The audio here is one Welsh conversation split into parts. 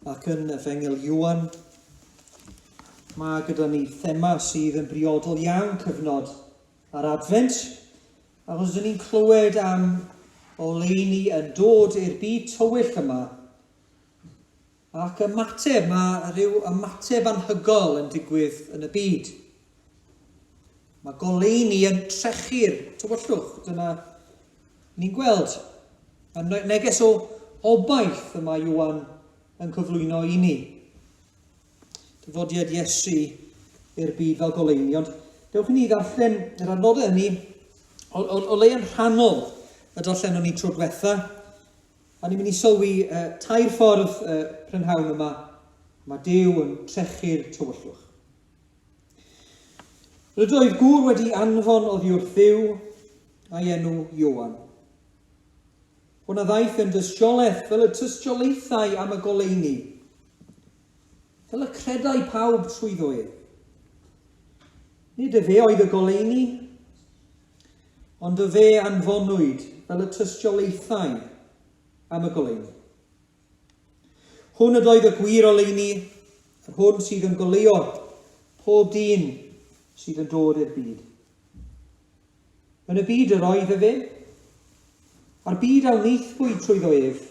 Ac yn Efengyl Iwan, mae gyda ni thema sydd yn briodol iawn cyfnod ar adfent, achos dyn ni'n clywed am oleini yn dod i'r byd tywyll yma, ac ymateb, mae rhyw ymateb anhygol yn digwydd yn y byd. Mae goleini yn trechu'r tywyllwch, dyna Ni'n gweld y neges o obaith y mae Ioan yn cyflwyno i ni. Dyfodiad Iesu i'r byd fel goleuni. Ond dewch i ni ddarllen yr adnodau hynny o, o, o le yn rhannol y darllenon ni tro diwetha. A ni'n mynd i sylwi uh, tair ffordd uh, prynhawn yma. Mae Dyw yn trechu'r tywyllwch. Rydoedd gŵr wedi anfon oddi wrth Dduw, a'i enw Ioan. Hwna ddaeth yn dystiolaeth fel y tystiolaethau am y goleuni, fel y credau pawb trwyddo ef. Nid y fe oedd y goleuni, ond y fe anfonwyd fel y tystiolaethau am y goleuni. Hwn ydoedd y gwir oleuni, yr hwn sydd yn goleuo pob dyn sydd yn dod i'r byd. Yn y byd yr oedd efe, a'r byd a wnaethpwyd trwyddo ef,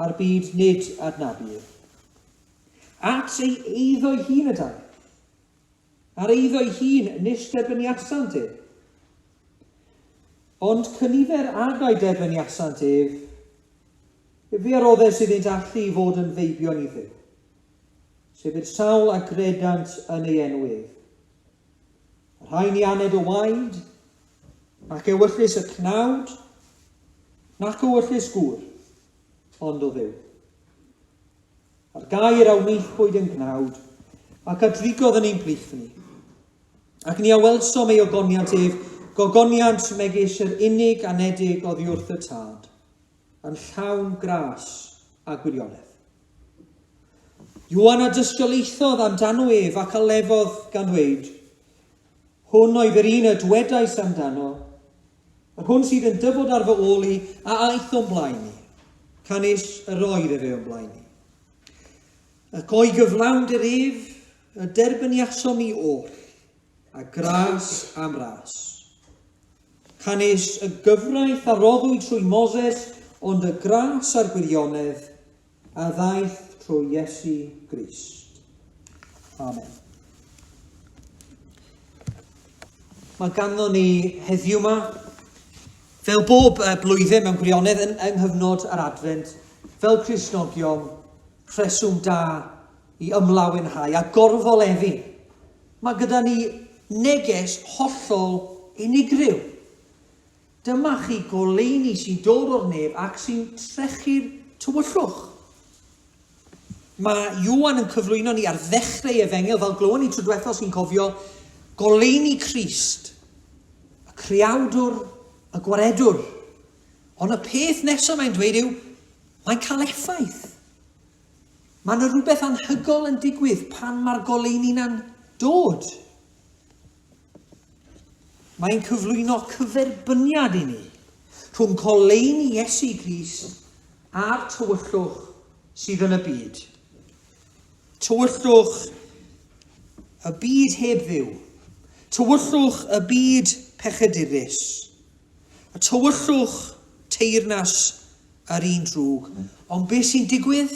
a'r byd nid adnabu ef. At ei eiddo ei hun y dan, Ar eiddo'i hun nis derbyniasant ef. Ond cynifer agau derbyniasant ef, efe a roddes iddynt allu i fod yn feibion i Dduw, sef i'r sawl a gredant yn ei enw ef. Y rhai ni aned o waed, nac ewyllys y cnawd, nac ewyllys gŵr, ond o Dduw. A'r gair a wnaethpwyd yn gnawd, ac a drigodd yn ein plith ni. Ac ni a welsom ei ogoniant ef, gogoniant megis yr unig anedig oddi wrth y tad, yn llawn gras a gwirionedd. Iwan a dystiolaethodd amdano ef ac a lefodd gan ddweud, Hwn oedd yr un y dwedais amdano, yr hwn sydd yn dyfod ar fy ôl i a aeth o'n blaen i, canys yr oedd efe o'n blaen i. Ac o'i gyflawnd yr ef y derbyniasom ni oll, a gras am ras. Canys y gyfraith a roddwyd trwy Moses, ond y gras a'r gwirionedd A ddaeth trwy Iesu Grist. Amen. Mae ganddo ni heddiw yma, fel bob blwyddyn mewn gwirionedd yn, yng nghyfnod yr adfent, fel Crisnogion, rheswm da i ymlawenhau a gorfoleddu. Mae gyda ni neges hollol unigryw. Dyma chi goleuni sy'n dod o'r nef ac sy'n trechu'r tywyllwch. Mae Ioan yn cyflwyno ni ar ddechrau efengyl, fel glywon ni tro diwethaf sy'n cofio, goleuni Crist, y creawdwr, y gwaredwr. Ond y peth nesaf mae'n dweud yw, mae'n cael effaith. Mae yna rhywbeth anhygol yn digwydd pan mae'r goleuni na'n dod. Mae'n cyflwyno cyferbyniad i ni rhwng coleuni Iesu Grist a'r tywyllwch sydd yn y byd. Tywyllwch y byd heb ddiw. Tywyllwch y byd pechedurus. A tywyllwch teirnas yr un drwg. Ond beth sy'n digwydd?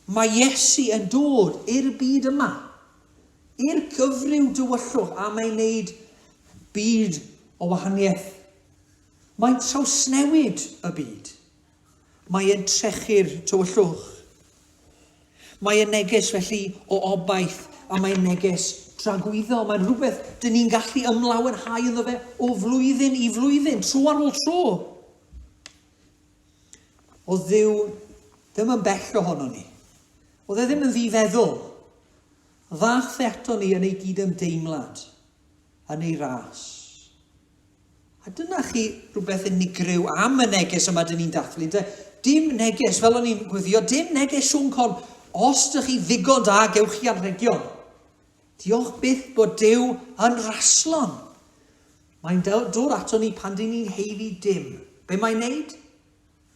Mae Iesu yn dod i'r byd yma, i'r cyfryw dywyllwch a mae'n neud byd o wahaniaeth. Mae'n trawsnewid y byd. Mae yn trechu'r tywyllwch. Mae yn neges felly o obaith a mae'n neges dragwyddo. Mae'n rhywbeth dyn ni'n gallu ymlawenhau ynddo fe o flwyddyn i flwyddyn, tro ar ôl tro. Oedd Dduw ddim yn bell ohono ni. Oedd e ddim yn ddifeddwl. Dda'th e ato ni yn ei gydymdeimlad, yn ei ras. A dyna chi rhywbeth unigryw am y neges yma dyn ni'n dathlu. De, dim neges, fel o'n i'n gwyddio, dim neges Siôn Con. Os ydych chi ddigon da, gewch chi anrhegion. Diolch byth bod Dyw yn raslon. Mae'n dod ato ni pan dŷn ni'n haeddu dim. Be mae'n neud?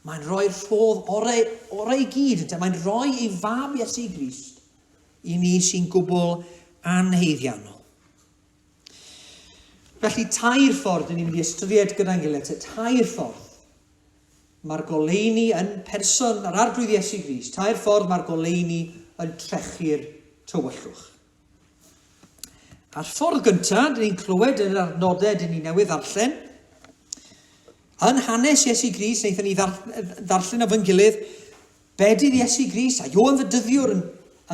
Mae'n rhoi'r rhodd orau, orau i gyd, ynte? Mae'n rhoi ei fam Iesu Grist i ni sy'n gwbl anheiddiannol. Felly, tair ffordd dyn ni'n mynd i ystyried gyda'n gilydd, te tair ffordd. Mae'r goleuni yn person yr arglwydd Iesu Gris. Tair ffordd mae'r goleuni yn trechu'r tywyllwch. A'r ffordd gyntaf, dyn ni'n clywed yn yr adnodau dyn ni newydd ddarllen, yn hanes Iesu Gris, wnaethon ni ddarllen o fy'n gilydd, bedydd Iesu Gris, a Johan fy dyddiwr yn,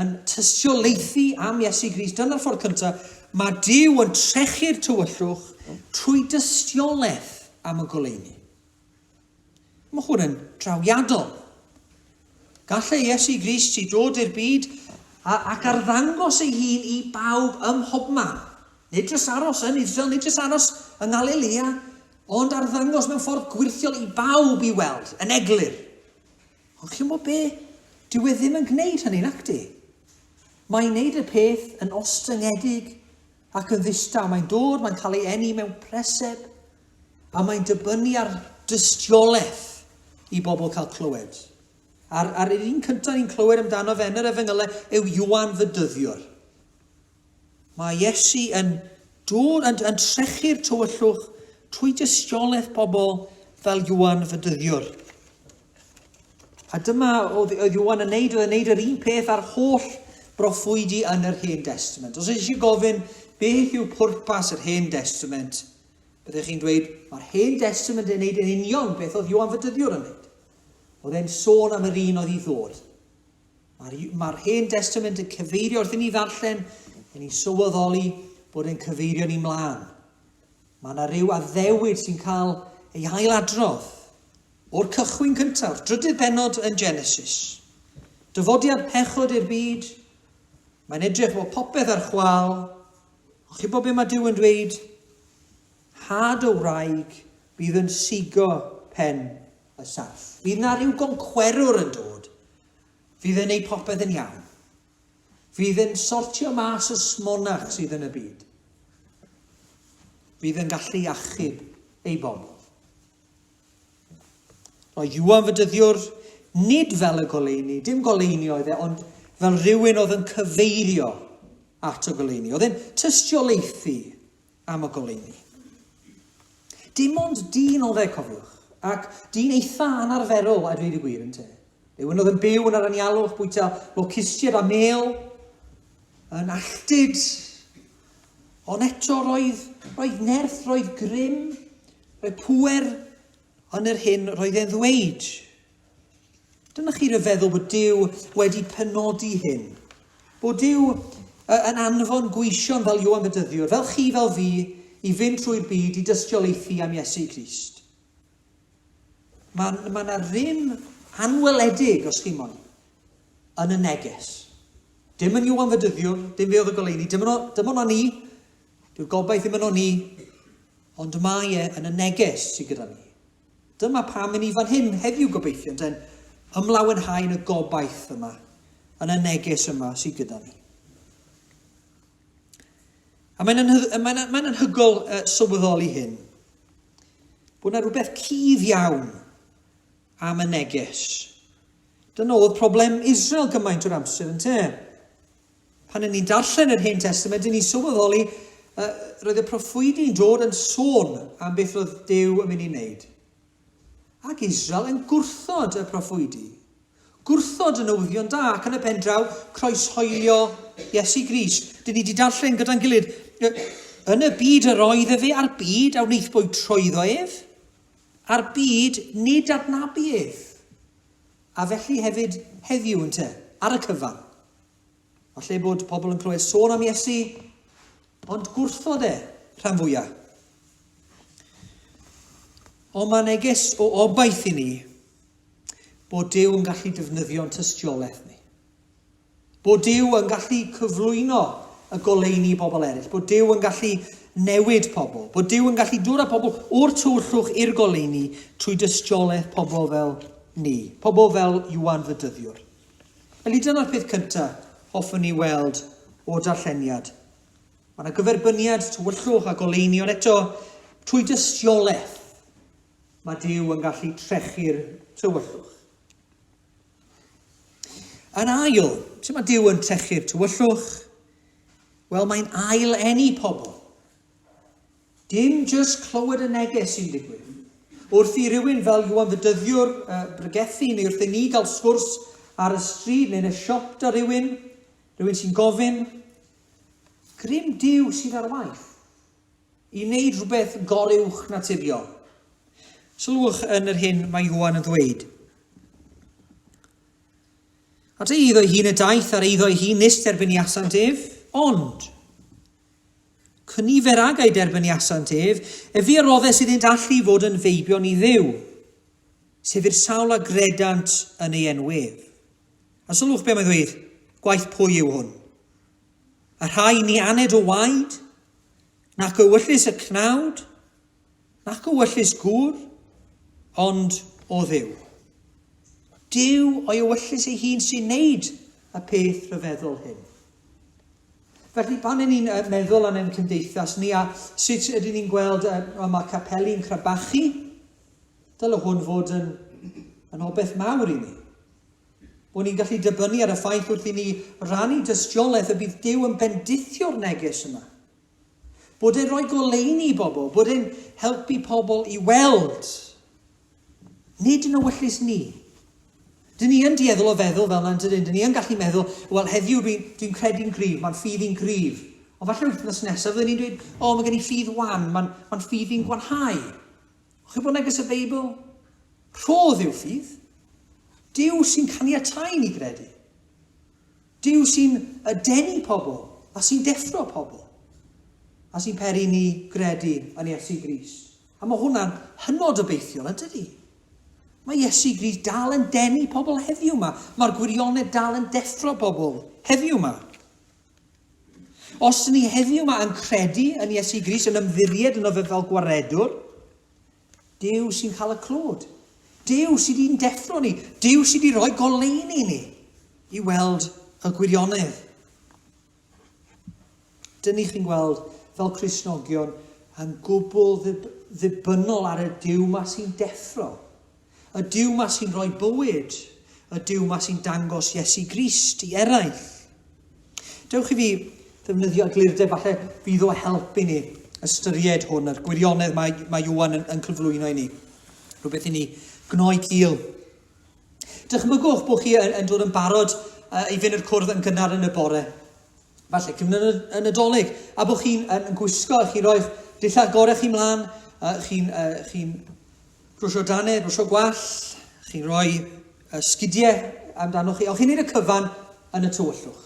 yn tystiolaethu am Iesu Gris. Dyna'r ffordd cyntaf, mae Dyw yn trechu'r tywyllwch trwy dystiolaeth am y goleuni. Mae hwn yn drawiadol. Gallai Iesu Grist i ddod i'r byd ac arddangos ei hun i bawb ym mhobman, nid jyst aros yn Israel, nid jyst aros yng Ngalilea, ond arddangos mewn ffordd gwirthiol i bawb i weld, yn eglur. Ond chi'n gwybod be? Dyw e ddim yn gwneud hynny, nac di? Mae'n wneud y peth yn ostyngedig Ac yn ddistaw, mae'n dod, mae'n cael ei eni mewn preseb, a mae'n dibynnu ar dystiolaeth i bobl cael clywed. A'r, ar yr un cyntaf ni'n clywed amdano fe yn yr efengylau yw Iwan fy dyddiwr. Mae Iesu yn dod yn, yn trechu'r tywyllwch trwy dystiolaeth pobl fel Iwan fy dyddiwr. A dyma oedd, oedd Iwan yn neud, oedd yn neud yr un peth ar holl broffwydi yn yr Hen Destament. Os eisiau gofyn beth yw pwrpas yr Hen Destament, byddech chi'n dweud, mae'r Hen Destament yn neud yn union beth oedd Iwan Fydyddiwr yn neud. Oedd e'n sôn am yr un oedd i ddod. Mae'r ma Hen Destament yn cyfeirio wrth i ni ddarllen, yn ni sylweddoli bod e'n cyfeirio ni mlaen. Mae yna rhyw addewid sy'n cael ei hailadrodd. O'r cychwyn cyntaf, drydydd bennod yn Genesis, dyfodiad pechod i'r byd, mae'n edrych fod popeth ar chwal, ond chi'n bod beth mae Dyw yn dweud? Had o wraig bydd yn sigo pen y sarff. Bydd na rhyw goncwerwr yn dod, fydd yn ei popeth yn iawn. Fydd yn sortio mas y smonach sydd yn y byd. Fydd yn gallu achub ei bobl. Mae Iwan fy dyddiwr, nid fel y goleuni, dim goleuni oedd e, ond fel rhywun oedd yn cyfeirio at y goleuni, oedd e'n tystiolaethu am y goleuni. Dim ond dyn oedd e, cofiwch, ac dyn eitha anarferol a dweud y gwir yn te. Rhywun oedd yn byw yn yr anialwch, bwyta locustiaid a mel, yn alltud, Ond eto roedd, roedd nerth, roedd grym, roedd pŵer yn yr hyn roedd e'n ddweud. Dyna chi ryfeddol bod Dyw wedi penodi hyn. Bod Dyw yn anfon gweision fel Ioan Bedyddiwr, fel chi, fel fi, i fynd trwy'r byd i dystiolaethu am Iesu Grist. Mae yna ma ddim anweledig, os chi'n moyn, yn y neges. Dim yn Iwan Fedyddiwr, dim fe oedd y goleuni, dim ond dim ond ni, dyw'r gobaith ddim ond ni, ond mae e yn y neges sydd gyda ni. Dyma pam yn ni fan hyn heddiw gobeithio, yn den, ymlawenhau yn y gobaith yma, yn y neges yma sydd gyda ni. A mae'n anhyg, mae'n, mae'n anhygol uh, sylweddoli hyn, bod yna rhywbeth cudd iawn am y neges. Dyna oedd problem Israel gymaint o'r amser yn te. Pan yn ni'n darllen yr Hen Testament, yn ni'n sylweddoli, uh, roedd y proffwydi'n dod yn sôn am beth roedd Dew yn mynd i wneud. Ac Israel yn gwrthod y proffwydi, gwrthod y newyddion da, ac yn y pen draw, croeshoelio Iesu Grist. Dyn ni wedi darllen gyda'n gilydd, yn y byd yr oedd efe a'r byd a wnaethbwyd trwyddo ef, a'r byd nid adnabu ef. A felly hefyd heddiw, ynte, ar y cyfan. Falle bod pobl yn clywed sôn am Iesu, ond gwrthod e, rhan fwya. Ond mae neges o obaith i ni bod Dyw yn gallu defnyddio'n tystiolaeth ni. Bod Dyw yn gallu cyflwyno y goleuni bobl eraill. Bod Dyw yn gallu newid pobl. Bod Dyw yn gallu dod â pobl o'r tywyllwch i'r goleuni trwy dystiolaeth pobl fel ni. Pobl fel Iwan Fydyddiwr. Felly dyna'r peth cynta hoffwn ni weld o'r darlleniad. Mae yna gyferbyniad, tywyllwch a goleuni, ond eto, trwy dystiolaeth, mae Duw yn gallu trechu'r tywyllwch. Yn ail, sut mae Duw yn trechu'r tywyllwch? Wel, mae'n ail enni pobl. Dim jyst clywed y neges sy'n digwydd. Wrth i rywun fel Iwan ddydyddiwr bregethu neu wrth i ni gael sgwrs ar y stryd neu'n y siop 'da rywun, rhywun sy'n gofyn, Grym Duw sydd ar waith i wneud rhywbeth goruwch naturiol. Sylwch yn yr hyn mae Iwan yn ddweud. At ei eiddo ei hun y daeth ar eiddo ei hun nes derbyn i asant ef, ond Cyn nifer ag ei derbyniasant ef, ef fi a roddest iddynt allu fod yn feibion i Dduw, sef i'r sawl a gredant yn ei enw ef. A sylwch be mae'n ddweud, gwaith pwy yw hwn? A rhai ni aned o waed, nac o wyllus y cnawd, Nac ywyllys gŵr, ond o Dduw. Duw o'i ywyllys ei hun sy'n neud y peth rhyfeddol hyn. Felly, pan yn ni'n meddwl am ein cymdeithas ni a sut ydyn ni'n gweld y mae capeli'n crabachu, dyle hwn fod yn, yn obeth mawr i ni. Bod ni'n gallu dibynnu ar y ffaith wrth i ni rannu dystiolaeth y bydd Dyw yn bendithio'r neges yma Bod e'n rhoi goleuni i bobl, bod e'n helpu pobl i weld. Nid yn ewyllus ni. Dyn ni yn dieddol o feddwl fel yna, dyn ni yn gallu meddwl, wel heddiw dwi'n dwi credu'n gryf, mae'n ffydd i'n gryf. Ond falle wythnos nesaf, fyddwn ni'n dweud, o, oh, mae gen i ffydd wan, mae'n ma ffydd i'n gwanhau. O'ch chi bod yn agos y Beibl? Rhodd yw ffydd. Dyw sy'n caniatau ni gredu. Duw sy'n denu pobl a sy'n deffro pobl, a sy'n peri i ni gredu yn Iesu Grist. A mae hwnna'n hynod obeithiol, yn dydy? Mae Iesu Grist dal yn denu pobl heddiw yma. Mae'r gwirionedd dal yn deffro pobl heddiw yma. Os ni heddiw yma yn credu yn Iesu Grist, yn ymddiried yn o fe fel gwaredwr, Duw sy'n cael y clod. Duw sydd i'n deffro ni. Duw sydd wedi rhoi goleuni ni i weld y gwirionedd. Dyn ni chi'n gweld fel Crisnogion yn gwbl ddibynnol ar y Duw ma sy'n deffro. Y Duw ma sy'n rhoi bywyd. Y Duw ma sy'n dangos Iesu Grist i eraill. Dewch i fi ddefnyddio eglurdeb, falle fydd o help i ni ystyried hwn a'r gwirionedd mae, mae Iwan yn, yn cyflwyno i ni. Rhywbeth i ni gnoi cil. Dychmygwch bod chi yn, yn dod yn barod uh, i fynd i'r cwrdd yn gynnar yn y bore. Falle cyfnod y nadolig, a bod chi'n yn, yn gwisgo, chi roi'ch dillad gorau chi mlaen, uh, chi'n uh, chi Croeso Dane, croeso gwall, chi'n rhoi y sgidiau amdanoch chi, ond chi'n neud y cyfan yn y tywyllwch.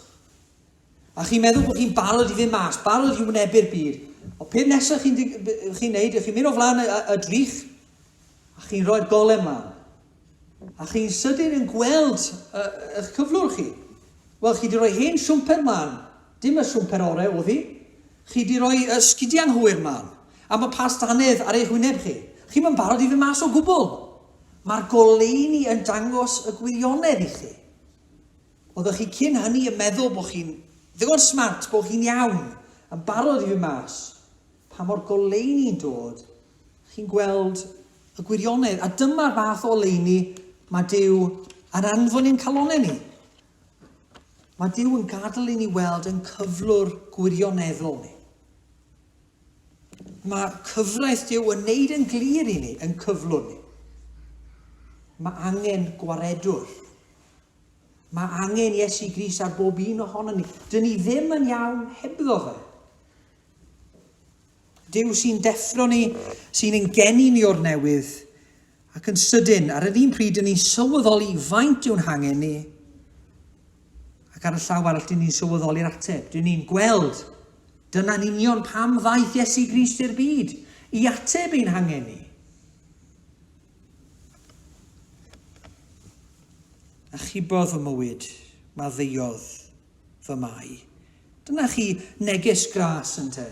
A chi'n meddwl bod chi'n barod i fynd mas, barod i wynebu'r byd. O peth nesaf chi'n chi neud, chi'n mynd o flaen y, y, y drych, a chi'n rhoi'r golem mlaen. A chi'n sydyn yn gweld eich cyflwr chi. Wel, chi wedi rhoi hen siwmper mlaen. Dim y siwmper orau oedd hi. Chi 'di rhoi sgidiau'n hwyr, Mam. Am y past annedd ar eich wyneb chi. Chi'm yn barod i fynd mas o gwbl! Mae'r goleuni yn dangos y gwirionedd i chi. Oeddech chi cyn hynny yn meddwl bod chi'n ddigon smart, bod chi'n iawn, yn barod i fynd mas. Pa mor goleuni'n dod, chi'n gweld y gwirionedd, a dyma'r fath o oleuni mae Duw yn anfon i'n calonnau ni. Mae Duw yn gadael i ni weld yn cyflwr gwirioneddol ni. Mae cyfraith Duw yn neud yn glir i ni, yn cyflwr ni. Mae angen gwaredwr. Mae angen Iesu Gris ar bob un ohono ni. Dyn ni ddim yn iawn hebddo fe. Duw sy'n deffro ni, sy'n ein geni ni o'r newydd, ac yn sydyn, ar yr un pryd, dyn ni'n sylweddoli faint yw'n hangen ni, ac ar y llaw arall, dyn ni'n sylweddoli'r ateb. Dyn ni'n gweld, dyna'n union pam ddaeth Iesu Grist i'r byd, i ateb ein hangen ni. A chybodd fy mywyd, maddeuodd fy Mae. Dyna chi neges gras, ynte?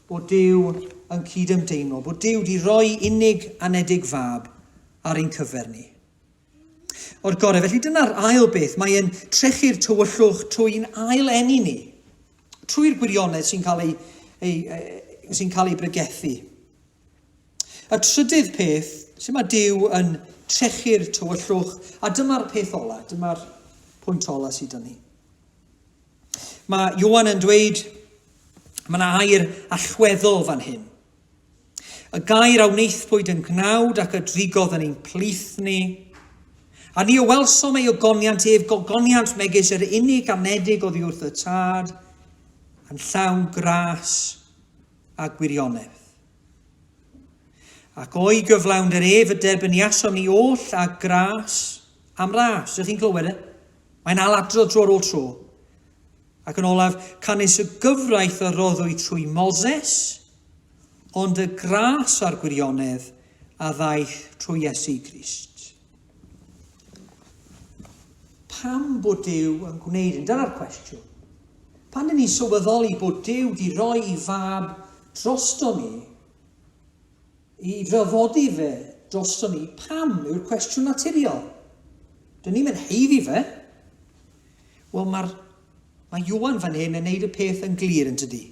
Bod Duw yn cyd-ymdeimlo, bod Duw 'di roi unig anedig fab ar ein cyfer ni. O'r gorau, felly dyna'r ail beth, mae e'n trechu'r tywyllwch trwy'n ail enni ni, trwy'r gwirionedd sy'n cael ei, ei, ei, sy'n cael ei bregethu. Y trydydd peth, lle mae Duw yn trechu'r tywyllwch, a dyma'r peth ola, dyma'r pwynt ola sydd â ni. Mae Johan yn dweud, mae yna air allweddol fan hyn. Y gair a wneithpwyd yn gnawd ac y drigodd yn ein plith ni, A ni o welsom ei ogoniant ef, gogoniant megis yr unig anedig oddi wrth y tad, yn llawn gras, a gwirionedd. Ac o'i gyflawn yr ef y derbyniasom ni oll a gras am ras. Ydych chi'n clywed e? Mae'n aladrodd tro ar ôl tro. Ac yn olaf, canys y gyfraith a roddwyd trwy Moses, ond y gras a'r gwirionedd a ddaeth trwy Iesu Grist. Pam bod Duw yn gwneud hyn? Dyna'r cwestiwn. Pan dyn ni'n sylweddoli bod Duw di roi i fab drosto ni, i ddyfodi fe drosto ni, pam yw'r cwestiwn naturiol? Dyn ni'n mynd heiddi fe. Wel, mae'r Mae Iwan fan hyn yn neud y peth yn glir yn tydi.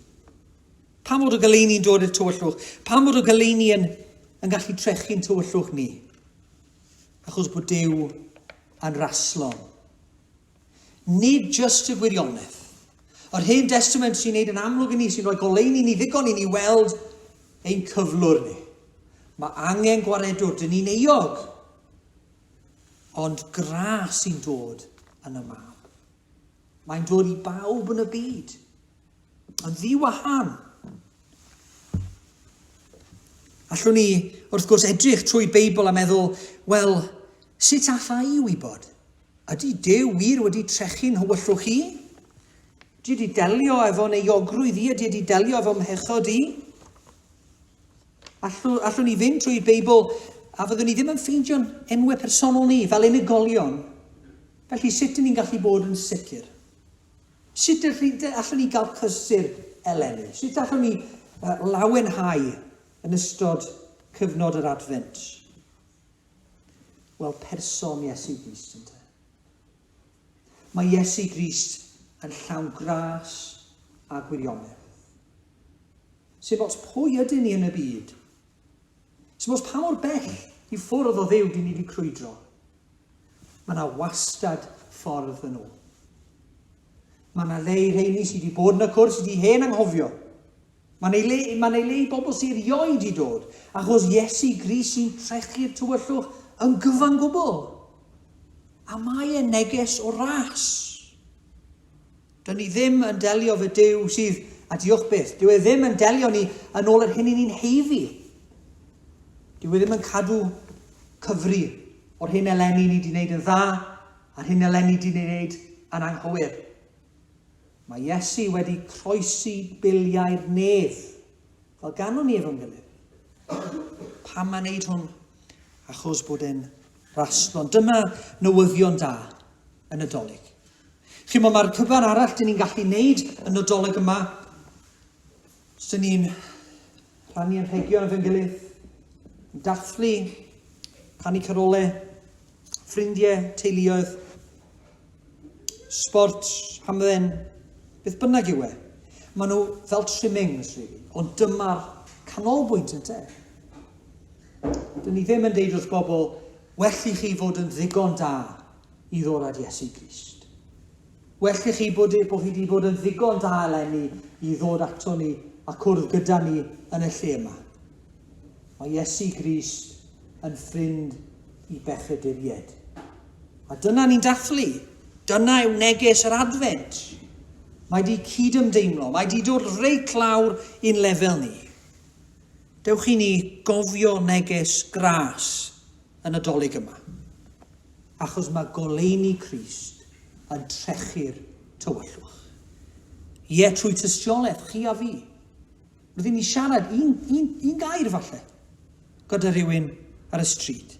Pam fod y goleuni'n dod i'r tywyllwch? Pam fod y goleuni yn, yn gallu trechu'n tywyllwch ni? achos bod Duw yn raslon. Nid jyst y gwirionedd. Yr Hen Destament sy'n neud yn amlwg i ni, sy'n rhoi goleuni ni ddigon i ni weld ein cyflwr ni. Mae angen gwaredwr, dyn ni'n euog, ond gras sy'n dod yn y mab. Mae'n dod i bawb yn y byd. Yn ddiwahân. Allwn ni, wrth gwrs, edrych trwy Beibl a meddwl, wel, sut alla i wybod? Ydy Dyw wir wedi trechu'n hywyllwch i? Ydy wedi delio efo euogrwydd i? Ydy wedi delio efo mhechod i? Allwn, allwn ni fynd trwy Beibl a fyddwn ni ddim yn ffeindio'n enwau personol ni fel unigolion. Felly sut dyn ni'n gallu bod yn sicr? Sut y rhynte allwn ni gael cysur eleni? Sut allwn ni lawenhau yn ystod cyfnod yr Adfent? Wel, person Iesu Grist ynte. Mae Iesu Grist yn llawn gras a gwirionedd. Sef ots pwy ydyn ni yn y byd. Sef ots pa mor bell i ffwrdd o ddew dyn ni wedi crwydro. Mae 'na wastad ffordd yn ôl. Mae 'na le i rheini sydd wedi bod yn y cwrs ydi hen anghofio. Mae'n ei le, mae'n ei le i bobl sy'n rioed i dod, achos Iesu Gris sy'n trechu'r tywyllwch yn gyfan gwbl. A mae e neges o ras. Dw ni ddim yn delio fy Duw sydd, a diolch byth, dyw e ddim yn delio ni yn ôl yr hyn i ni'n heiddi. Dyw e ddim yn cadw cyfri o'r hyn eleni ni di wneud yn dda a'r hyn eleni di wneud yn anghywir. Mae Iesu wedi croesi biliau'r nef, fel ganwn ni efo'n gilydd. Pam mae'n neud hwn? Achos bod e'n raslo. Dyma newyddion da yn y dolyg. Chimo mae'r cyfan arall dyn ni'n gallu neud y Nadolig yma. Os dyn ni'n rhannu yn rhegion efo'n gilydd, dathlu, canu carole, ffrindiau, teuluoedd, sport, hamdden, beth bynnag yw e. Maen nhw fel trimmings, really. ond dyma'r canolbwynt yn te. Dyn ni ddim yn deud wrth bobl, well i chi fod yn ddigon da i ddod at Iesu Grist. Well i chi bod e bo hi di bod yn ddigon da eleni i ddod ato ni a cwrdd gyda ni yn y lle yma. Mae Iesu Grist yn ffrind i bechaduried. A dyna ni'n dathlu. Dyna yw neges yr Adfent. Mae di cyd-ymdeimlo, mae di dod reit lawr i'n lefel ni. Dewch i ni gofio neges gras y Nadolig yma, achos mae goleuni Crist yn trechu'r tywyllwch. Ie, trwy tystiolaeth chi a fi, rydyn ni siarad un, un, un gair falle, gyda rhywun ar y stryd.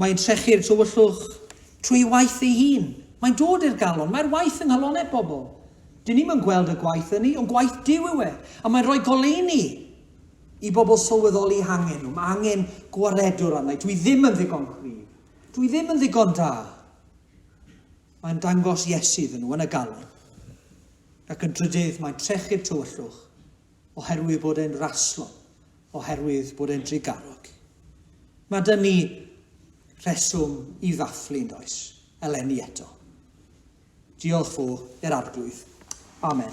Mae'n trechu'r tywyllwch trwy waith ei hun. Mae'n dod i'r galon, mae'r waith yng nghalonau pobl. Dyn ni'n yn gweld y gwaith yn ni, ond gwaith Dyw yw e, a mae'n rhoi goleuni I bobl sylweddoli hangen nhw, mae angen gwaredwr arna-i. Dwi ddim yn ddigon cryf. Dwi ddim yn ddigon da. Mae'n dangos Iesu iddyn nhw yn y galon. Ac yn drydydd, mae'n trechu'r tywyllwch oherwydd bod e'n raslo, oherwydd bod e'n drugarog. Mae dyn ni rheswm i ddathlu, yn does? Eleni eto. Diolch fo, yr arglwydd. Amen.